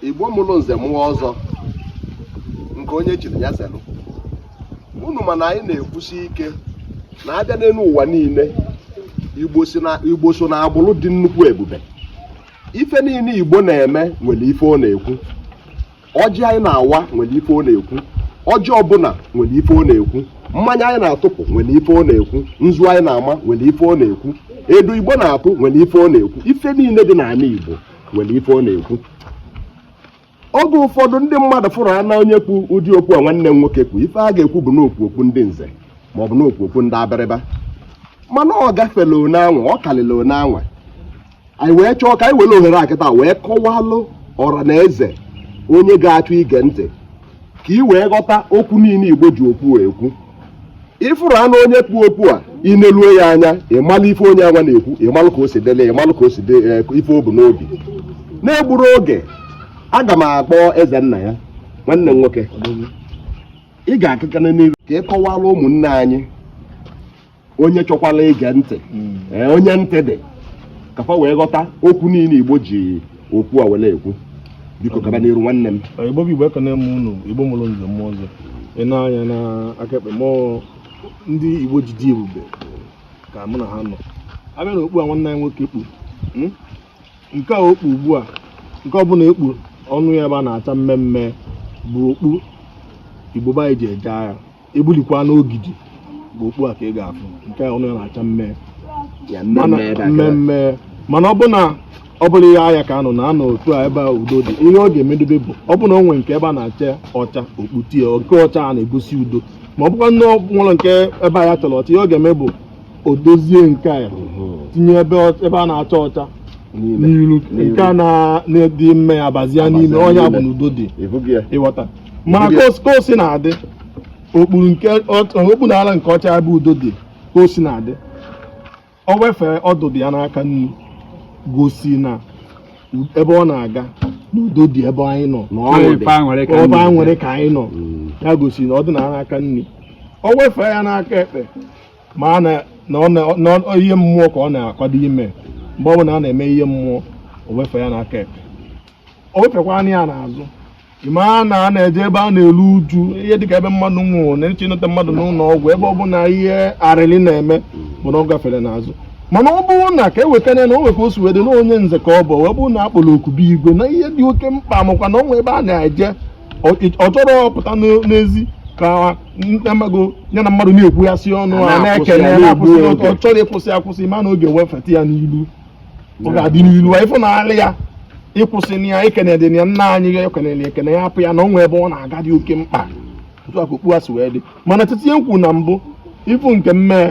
igbo mụrụ nze mụọ ọzọ nke onye chiri ya zelụ unu mana anyị na-ekwusi ike na abịa n'enu ụwa niile igbo so na agbụrụ dị nnukwu ebube ife niile igbo na-eme nwere ife ọ na-ekwu ọjị anyị na-awa nwere ife ọ na-ekwu ọjị ọbụla nwere ife ọ na-ekwu mmanya anyị na-atụpụ nwere ife ọ na-ekwu nzu anyị na-ama nwere ife ọ na-ekwu edo igbo na-atụ nwere ife ọ na-ekwu ife niile dị n'anị igbo nwere ife ọ na-ekwu oge ụfọdụ ndị mmadụ fụrụ ana onye kpu ụdị okpu a nwanne m nwoke kpu ife a ga-ekwu bụ na o kpu okpu ndị nze ma ọ bụ na o kpu okpu ndị abịrịba mana ọ gafela one anwa ọ kalịla one anwa anyị wee chọọ ka anyị were ohere a kịta wee kọwalụ ọra na eze onye ga-achọ ige ntị ka ị wee ghọta okwu niile igbo ji okpu a ekwu ị fụrụ ana onye kpu okpu a i neluo ya anya ịmalụ ife onye anwa na-ekwu ịmalụ ka o si dele ịmalụ ka o si de eh, ife o bu n'obi na-egburo oge aga m akpọ eze nna ya nwanne m nwoke ị ga-akụkana n'iru ka ị kọwara ụmụnne anyị onye chọkwala ige ntị hmm. eh, onye ntị dị ka fa wee ghọta okwu niile igbo ji okpu a were ekwu biko gaba n'iru nwanne m eh, igbo bụ igbo ekene m unu igbo mụrụ nze mụọ ọzọ ị nee anya n'aka ekpe m ọ ndị igbo ji dị ebube ka mụ na ha nọ abịa na okpu a nwanne anyị nwoke kpu hmm? nke a o kpu ugbu a nke ọ bụ na ekpu ọnụ ya ebe a na-acha mmee mmee bụ okpu igbo be anyị ji eje agha egbulikwa n'ogidi bụ okpu a ka ị ga-afụ nke a ọnụ ya na-acha mmee mmee mana ọ bụ na ọ bụrọ agha ka a nọ na a nọ otu a ebe udo dị ihe ọ ga-emedobe bụ ọ bụ na o nwere nke ebe a na-acha ọcha o kputie nke ọcha a na-egosi udo ma ọ bụkwa na o nwerọ nke ebe a ya chara ọcha ihe ọ ga-eme bụ o dozie nke a tinye ebe ọ- ebe a na-acha ọcha n'iru nke a na- na-adị mmee abazie n'ime ọ ya bụ na udo dị ị ghọta mana ka o- ka o si na-adị o kpuru nke ọ- o kpuru ala nke ọcha ebe udo dị ka o si na-adị o wefee ọdụdụ ya n'aka nri gosi na u- ebe ọ na-aga na udo dị ebe anyị nọ ebe a nwere ka anyị nọ ya gosi na ọ dị na n'aka nri o wefee ya n'aka ekpe ma na ọ ihe mmụọ ka ọ na-akwado ime mgbe ọ bụla a na-eme ihe mmụọ o wefee ya n'aka ekpe o wefekwanụ ya n'azụ ị ma na a na-eje ebe a na-eru uju ihe dịka ebe mmadụ nwụrụ na-eje ịneta mmadụ n'ụlọ ọgwụ ebe ọ bụla ihe arịrị na-eme bụ na ọ gafere n'azụ mana ọ bụrụ na ka e wetara na o nwe ka o si wede na onye nze ka ọ bụ wee bụrụ na a kpọrọ oku be igwe na ihe dị oke mkpa makwa na ọ nwe ebe a na-eje ọ ọ chọrọ ọpụta n'ezi ka amago ya na mmadụ na-ekwughasị ọnụ a A na-akwụsị na-ekele ya, na-akwụsị na-egbu n'otu, oge. ọ chọrọ ịkwụsị akwụsị mana oge wefeta ya n'ilu ọ ga-adị n'ilu ị fụ na alị ya ịkwụsịna ya ikene dị na ya nna anyị ya ekenele ekene ya hapụ ya na o nwee ebe ọ na-aga dị oke mkpa otu a ka okpu a si wee dị mana titi ya nkwu na mbụ ị fụ nke mmee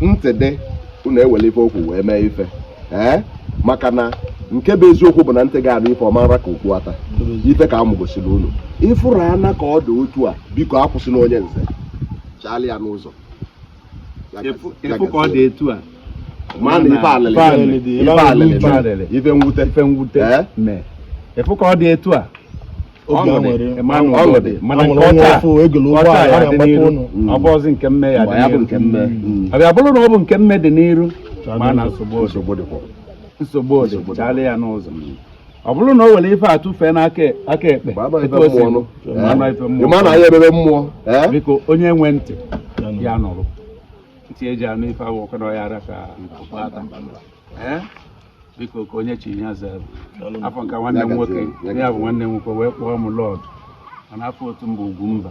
ntị dị unu ewere ife okwu wee mee ife ee maka na nke bụ eziokwu bụ na ntị ga-anụ ife ọ ma-ara ka okpu ata ife ka mụ gosiri unu ị fụrụ ana ka ọ dị otu a biko akwụsịna onye nze chaali ya n'ụzọ ị fụ ka ọ dị etu a ma na ife alịlị ife alịlị ife mwute ị fụ ka ọ dị etu a ọ bụzi nke mme ya abịa bụrụ na ọ bụ nke mme dị n'iru ma na nsogbu nsogbu chaalị ya n'ụzọ ọ bụrụ na o were ife a tụfee n'aka aka ekpe ma na ya ebebe mmụọ biko onye nwe ntị ya nụrụ ntị e ji anụ ife awụ ọkọrọ ya ara ka biko ka onye chi ya zere afọ nke nwanne m nwoke ya bụ nwanne m nwoke wee kpọọ m lọd mana afọ otu mba Ugwumba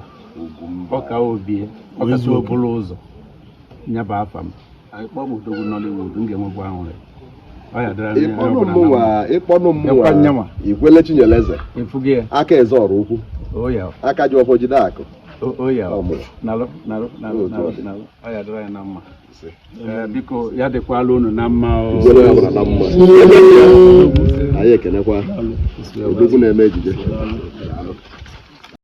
ọka obie ọkasi obụla ụzọ nya bụ afa m ị kpọọ m odogwu Nollywood m ga-enwekwa ahụrị ị kpọnụ mmụwa ikwele Chinyeleze aka eze ọrụ ukwu oh, aka ji ọfọ jide akụ oh, oh, Eh, biko ya dịkwalụ unu na mma anyị ekenekwa odogwu na-eme ejije